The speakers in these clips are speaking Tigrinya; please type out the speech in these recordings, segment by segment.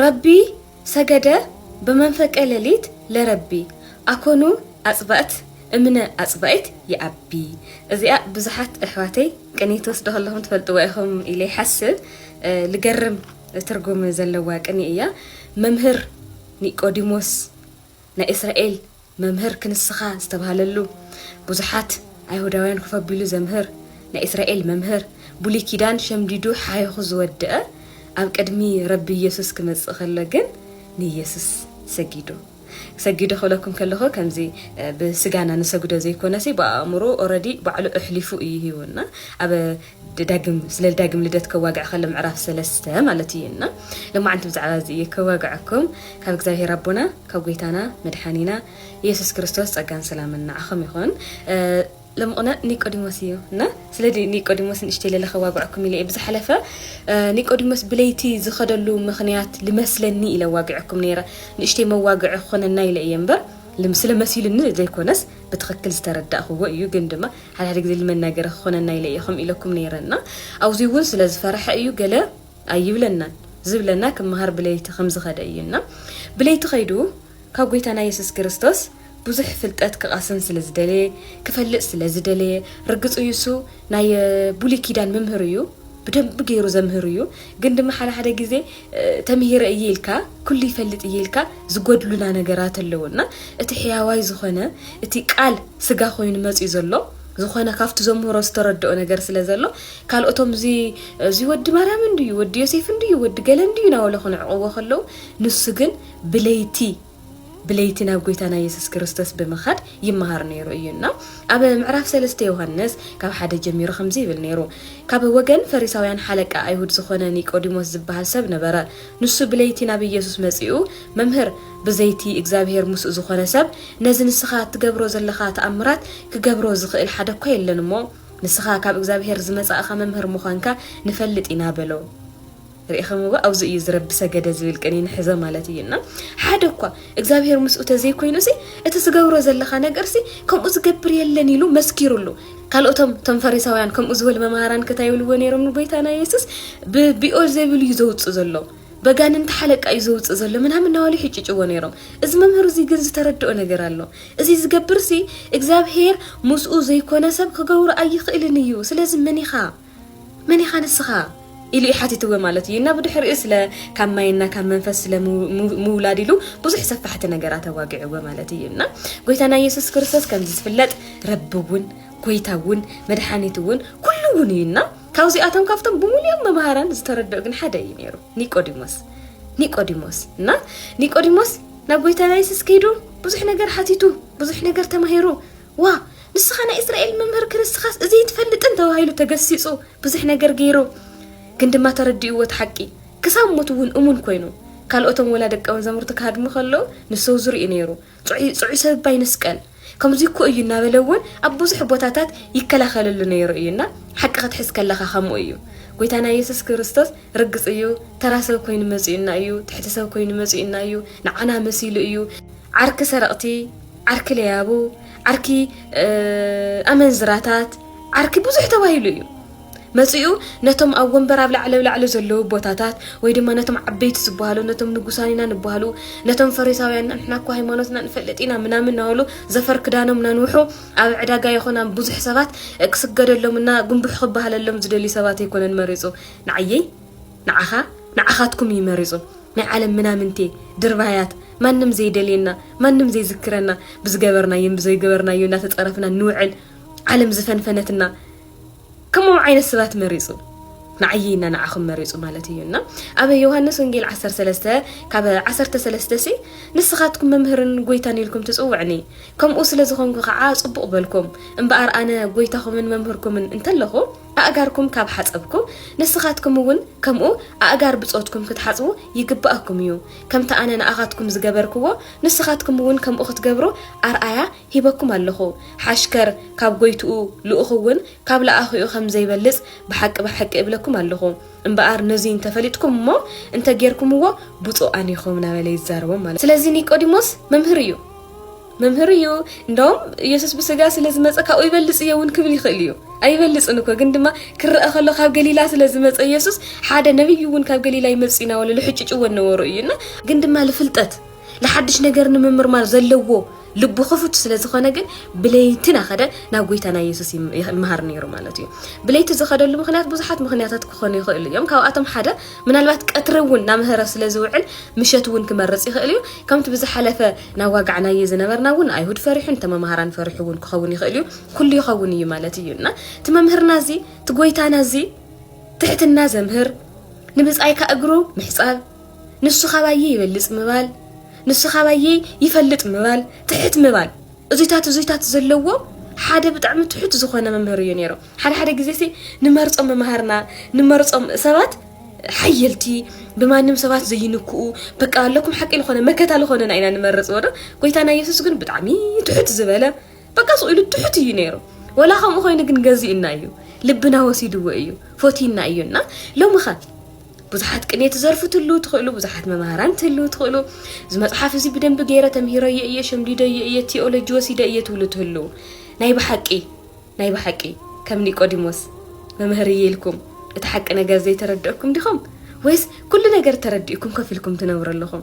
ረቢ ሰገደ በመንፈቀ ሌሊት ለረቢ ኣኮኑ ኣጽብዕት እምነ ኣጽብዒት ይኣቢ እዚኣ ብዙሓት ኣሕዋተይ ቅንይ ትወስዱ ከለኹም ትፈልጥዋ ኢኹም ኢለ ይሓስብ ልገርም ትርጉም ዘለዋ ቅንይ እያ መምህር ኒቆዲሞስ ናይ እስራኤል መምህር ክንስኻ ዝተባህለሉ፣ ብዙሓት ኣይሁዳውያን ኮፍ ኣቢሉ ዘምህር ናይ እስራኤል መምህር፣ ብሉይ ኪዳን ሸምዲዱ ሓኺኹ ዝወደኣ፣ ኣብ ቅድሚ ረቢ የሱስ ክመጽእ ከሎ ግን ንየሱስ ሰጊዱ። ሰጊዱ ክብለኩም ከለኹ ከምዚ ብስጋና ንሰግዶ ዘይኮነሲ ብኣእምሩ ኦረዲ ባዕሉ እሕሊፉ እዩ ሂቡና። ኣብ ደዳግም ስለ ዳግም ልደት ከዋግዕ ከሎ ምዕራፍ ሰለስተ ማለት እዩ እና ለማዓንቲ ብዛዕባ እዚ እየ ከዋግዐኩም ካብ እግዚኣብሔር ኣቦና ካብ ጎይታና መድሓኒና ኢየሱስ ክርስቶስ ጸጋን ሰላምን ንዓኹም ይኹን ለምቕነ ኒቆዲሞስ እዩ እና ስለ ኒቆዲሞስ ንእሽተይ ለለ ከዋግዐኩም ኢለ እየ ብዝሓለፈ ኒቆዲሞስ ብለይቲ ዝኸደሉ ምኽንያት ልመስለኒ ኢለ ዋግዐኩም ነይረ ንእሽተይ መዋግዒ ክኾነና ኢለ እየ እምበር ስለ መሲሉኒ ዘይኮነስ ብትኽክል ዝተረዳእኽዎ እዩ ግን ድማ ሓደ ሓደ ግዜ ልመና ገረ ክኾነና ኢለ እየ ከምኡ ኢለኩም ነይረ እና ኣውዙይ እውን ስለ ዝፈረሐ እዩ ገለ ኣይብለናን ዝብለና ክመሃር ብለይቲ ከም ዝኸደ እዩ እና ብለይቲ ከይዱ ካብ ጎይታና የሱስ ክርስቶስ ብዙሕ ፍልጠት ክቓስን ስለ ዝደለየ ክፈልጥ ስለ ዝደለየ ርግፁ እዩ እሱ ናይ ብሉይ ኪዳን መምህር እዩ ብደንብ ገይሩ ዘምህር እዩ ግን ድማ ሓደ ሓደ ግዜ ተምሂረ እየ ኢልካ ኩሉ ይፈልጥ እየ ኢልካ ዝጎድሉና ነገራት ኣለዉ እና እቲ ሕያዋይ ዝኾነ እቲ ቃል ስጋ ኮይኑ መፅኡ ዘሎ ዝኾነ ካብቲ ዘምህሮ ዝተረድኦ ነገር ስለ ዘሎ ካልኦቶም እዚ እዚ ወዲ ማርያም እንድዩ ወዲ ዮሴፍ እንድዩ ወዲ ገለ እንድዩ ናበለ ክንዕቕዎ ከለዉ ንሱ ግን ብለይቲ ብለይቲ ናብ ጐይታና የሱስ ክርስቶስ ብምኻድ ይመሃር ነይሩ እዩ እና ኣብ ምዕራፍ ሰለስተ ዮሃንስ ካብ ሓደ ጀሚሩ ከምዚ ይብል ነይሩ ካብ ወገን ፈሪሳውያን ሓለቃ ኣይሁድ ዝኾነ ኒቆዲሞስ ዝበሃል ሰብ ነበረ ንሱ ብለይቲ ናብ ኢየሱስ መጺኡ መምህር ብዘይቲ እግዚኣብሔር ምስኡ ዝኾነ ሰብ ነዚ ንስኻ እትገብሮ ዘለኻ ተኣምራት ክገብሮ ዝኽእል ሓደ እኳ የለን እሞ ንስኻ ካብ እግዚኣብሔር ዝመጻእኻ መምህር ምዃንካ ንፈልጥ ኢና በሎ ርኢኸምዋ ኣብዚ እዩ እዚ ረቢ ሰገደ ዝብል ቅኔ ንሕዘ ማለት እዩ እና ሓደ እኳ እግዚኣብሔር ምስኡ ተዘይኮይኑሲ እቲ ትገብሮ ዘለኻ ነገርሲ ከምኡ ዝገብር የለን ኢሉ መስኪሩሉ ካልኦቶም እቶም ፈሪሳውያን ከምኡ ዝበሉ መምሃራን ከታ ይብልዎ ነይሮም ንጎይታና የሱስ ብቢኦል ዘይብሉ እዩ ዘውፅእ ዘሎ በጋንንቲ ሓለቃ እዩ ዘውፅእ ዘሎ ምናምን ናዋሉ ይሕጭጭዎ ነይሮም እዚ መምህር እዚ ግን ዝተረድኦ ነገር ኣሎ እዚ ዝገብርሲ እግዚኣብሄር ምስኡ ዘይኮነ ሰብ ክገብሮ ኣይኽእልን እዩ ስለዚ መን ኢኻ መን ኢኻ ንስኻ? ኢሉ ሓቲትወ ማለት እዩ እና ብድሕሪኡ ስለ ካብ ማይና ካብ መንፈስ ስለ ምውላድ ኢሉ ብዙሕ ሰፋሕቲ ነገራት ኣዋጊዕወ ማለት እዩ እና ጎይታና ኢየሱስ ክርስቶስ ከምዚ ዝፍለጥ ረቢ እውን ጎይታ እውን መድሓኒት እውን ኩሉ እውን እዩ እና ካብዚኣቶም ካብቶም ብምሉኦም መምሃራን ዝተረድኦ ግን ሓደ እዩ ነይሩ ኒቆዲሞስ ኒቆዲሞስ እና ኒቆዲሞስ ናብ ጎይታና ኢየሱስ ከይዱ ብዙሕ ነገር ሓቲቱ ብዙሕ ነገር ተማሂሩ ዋእ ንስኻ ናይ እስራኤል መምህር ክንስኻስ እዚ ኣይትፈልጥን ተባሂሉ ተገሲጹ ብዙሕ ነገር ገይሩ ግን ድማ ተረዲእዎ እቲ ሓቂ ክሳብ ሞት እውን እሙን ኮይኑ ካልኦቶም ወላ ደቀ መዛሙርቲ ክሃድሙ ከለዉ ንሰው ዙር እዩ ነይሩ ጽዑይ ጽዑይ ሰብ እባ ይንስቀል ከምዚ እኮ እዩ እናበለ እውን ኣብ ብዙሕ ቦታታት ይከላኸለሉ ነይሩ እዩ እና ሓቂ ክትሕዝ ከለኻ ከምኡ እዩ ጎይታና ኢየሱስ ክርስቶስ ርግጽ እዩ ተራ ሰብ ኮይኑ መጺኡና እዩ ትሕቲ ሰብ ኮይኑ መጺኡና እዩ ንዓና መሲሉ እዩ ዓርኪ ሰረቕቲ ዓርኪ ለያቡ፣ ዓርኪ ኣመንዝራታት፣ ዓርኪ ብዙሕ ተባሂሉ እዩ። መጺኡ ነቶም ኣብ ወንበር ኣብ ላዕሊ ላዕሊ ዘለዉ ቦታታት ወይ ድማ ነቶም ዓበይቲ ዝበሃሉ ነቶም ንጉሳን ኢና ንበሃሉ ነቶም ፈሪሳውያን ንሕና እኮ ሃይማኖትና ንፈልጥ ኢና ምናምን ናበሉ ዘፈር ክዳኖም ናንውሑ ኣብ ዕዳጋ ይኹን ኣብ ብዙሕ ሰባት ክስገደሎምና ጉንቡሕ ክበሃለሎም ዝደልዩ ሰባት ኣይኮነን መሪጹ ንዓየይ ንዓኻ ንዓኻትኩም እዩ መሪጹ ናይ ዓለም ምናምንቴ ድርባያት ማንም ዘይደልየና ማንም ዘይዝክረና ብዝገበርናዮን ብዘይገበርናዮ እንዳተጸረፍና ንውዕል ዓለም ዝፈንፈነትና ከምኡ ዓይነት ሰባት መሪጹ ንዓየይ እና ንዓኹም መሪጹ ማለት እዩ እና ኣብ ዮሃንስ ወንጌል 13 ካብ 13 ሲ ንስኻትኩም መምህርን ጎይታን ኢልኩም ትጽውዕኒ ከምኡ ስለ ዝኾንኩ ከዓ ጽቡቕ በልኩም እምበኣር ኣነ ጎይታኹምን መምህርኩምን እንተለኹ ኣእጋርኩም ካብ ሓጸብኩ፣ ንስኻትኩም እውን ከምኡ ኣእጋር ብጾትኩም ክትሓጽቡ ይግብኣኩም እዩ። ከምቲ ኣነ ንኣኻትኩም ዝገበርክዎ፣ ንስኻትኩም እውን ከምኡ ክትገብሩ ኣርኣያ ሂበኩም ኣሎኹ። ሓሽከር ካብ ጐይትኡ፣ ልኡኽ እውን ካብ ለኣኺኡ ኸም ዘይበልጽ ብሓቂ ብሓቂ እብለኩም ኣሎኹ። እምበኣር ነዙይ እንተ ፈሊጥኩም እሞ እንተ ጌርኩምዎ ብፁኣን ኢኹም እናበለ ይዛረቦም ማለት እዩ። ስለዚ ኒቆዲሞስ መምህር እዩ። መምህር እዩ እንደውም ኢየሱስ ብስጋ ስለ ዝመፀ ካብኡ ይበልፅ እየ እውን ክብል ይኽእል እዩ ኣይበልፅን እኮ ግን ድማ ክረአ ከሎ ካብ ገሊላ ስለ ዝመፀ ኢየሱስ ሓደ ነብይ እውን ካብ ገሊላ ይመፅእ ኢና ወለ ልሕጭጭዎ ነበሩ እዩ እና ግን ድማ ልፍልጠት ንሓድሽ ነገር ንምምርማር ዘለዎ ልቡ ክፉት ስለ ዝኾነ ግን ብለይቲ ናኸደ ናብ ጎይታና ኢየሱስ ይመሃር ነይሩ ማለት እዩ ብለይቲ ዝኸደሉ ምክንያት ብዙሓት ምክንያታት ክኾኑ ይኽእሉ እዮም ካብኣቶም ሓደ ምናልባት ቀትሪ እውን ናምህረ ስለ ዝውዕል ምሸት እውን ክመርፅ ይኽእል እዩ ከምቲ ብዝሓለፈ ናዋጋዕናዬ ዝነበርና እውን ኣይሁድ ፈሪሑ እንተ መማሃራን ፈሪሑ እውን ክኸውን ይኽእል እዩ ኩሉ ይኸውን እዩ ማለት እዩ እና እቲ መምህርና እዚ እቲ ጎይታና እዚ ትሕትና ዘምህር ንብጻይካ እግሩ ምሕጻብ ንሱ ካባዬ ይበልጽ ምባል ንሱ ካባዬ ይፈልጥ ምባል ትሕት ምባል እዙይታት እዙይታት ዘለዎ ሓደ ብጣዕሚ ትሑት ዝኾነ መምህር እዩ ነይሩ ሓደ ሓደ ግዜ ሲ ንመርፆም መምሃርና ንመርፆም ሰባት ሓየልቲ ብማንም ሰባት ዘይንክኡ በቃ ኣለኩም ሓቂ ዝኾነ መከታ ዝኾነና ኢና ንመርፅ ወዶ ጎይታና የሱስ ግን ብጣዕሚ ትሑት ዝበለ በቃ ስቕ ኢሉ ትሑት እዩ ነይሩ ወላ ከምኡ ኮይኑ ግን ገዚእና እዩ ልብና ወሲድዎ እዩ ፎቲና እዩ እና ሎሚ ኸ ብዙሓት ቅኔ ትዘርፉ ትሉ ትኽእሉ ብዙሓት መምሃራን ትሉ ትኽእሉ እዚ መፅሓፍ እዚ ብደንቢ ገይረ ተምሂረዮ እየ ሸምዲደዮ እየ ቴኦሎጂ ወሲደ እየ ትብሉ ትህልው ናይ ብሓቂ ናይ ብሓቂ ከም ኒቆዲሞስ መምህር እየ ኢልኩም እቲ ሓቂ ነገር ዘይተረድእኩም ዲኹም ወይስ ኩሉ ነገር ተረዲእኩም ከፍ ኢልኩም ትነብሩ ኣለኹም?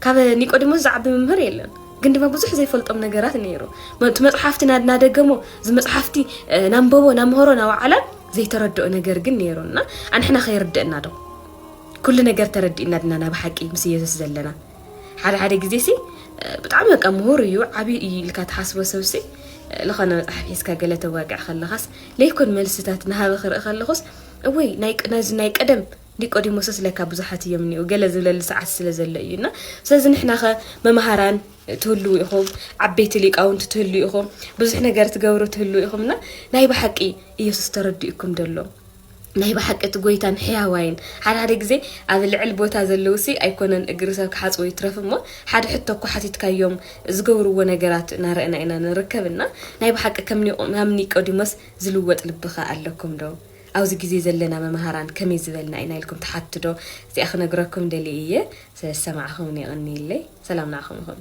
ካብ ኒቆዲሞስ ዝዓቢ መምህር የለን። ግን ድማ ብዙሕ ዘይፈልጦም ነገራት ነይሩ። እቲ መጽሓፍቲ ናደገሞ እዚ መጽሓፍቲ ናንበቦ ናምህሮ ናወዓላ ዘይተረድኦ ነገር ግን ነይሩ እና ኣንሕና ከይርድእና ዶ ኩሉ ነገር ተረዲእና ድና ናብ ሓቂ ምስ ኢየሱስ ዘለና ሓደ ሓደ ግዜ ሲ ብጣዕሚ በቃ ምሁር እዩ ዓብዪ እዩ ኢልካ ትሓስቦ ሰብ ሲ ዝኾነ መፅሓፍ ሒዝካ ገለ ተዋግዕ ከለኻስ ለይኮን መልስታት ናሃበ ክርኢ ከለኹስ እወይ ናይ ናይ ቀደም ኒቆዲሞስስ ለካ ብዙሓት እዮም እኒኡ ገለ ዝብለሉ ሰዓት ስለ ዘሎ እዩ እና ስለዚ ንሕና ኸ መምሃራን ትህልው ኢኹም ዓበይቲ ሊቃውንቲ ትህልው ኢኹም ብዙሕ ነገር ትገብሩ ትህልው ኢኹም እና ናይ ብሓቂ ኢየሱስ ተረዲኡኩም ደሎ ናይ ብሓቂ እቲ ጎይታን ሕያዋይን ሓደ ሓደ ግዜ ኣብ ልዕል ቦታ ዘለውሲ ኣይኮነን እግሪ ሰብ ክሓጽቡ ይትረፍ እሞ ሓደ ሕቶ እኮ ሓቲትካዮም ዝገብርዎ ነገራት ናረእና ኢና ንርከብ እና ናይ ብሓቂ ከም ከም ኒቆዲሞስ ዝልወጥ ልብኸ ኣለኩም ዶ ኣብዚ ግዜ ዘለና መማሃራን ከመይ ዝበልና ኢና ኢልኩም ትሓቱ ዶ እዚኣ ክነግረኩም ደልየ እየ ስለ ዝሰማዕኹምኒ የቐንየለይ ሰላም ንዓኹም ይኹን።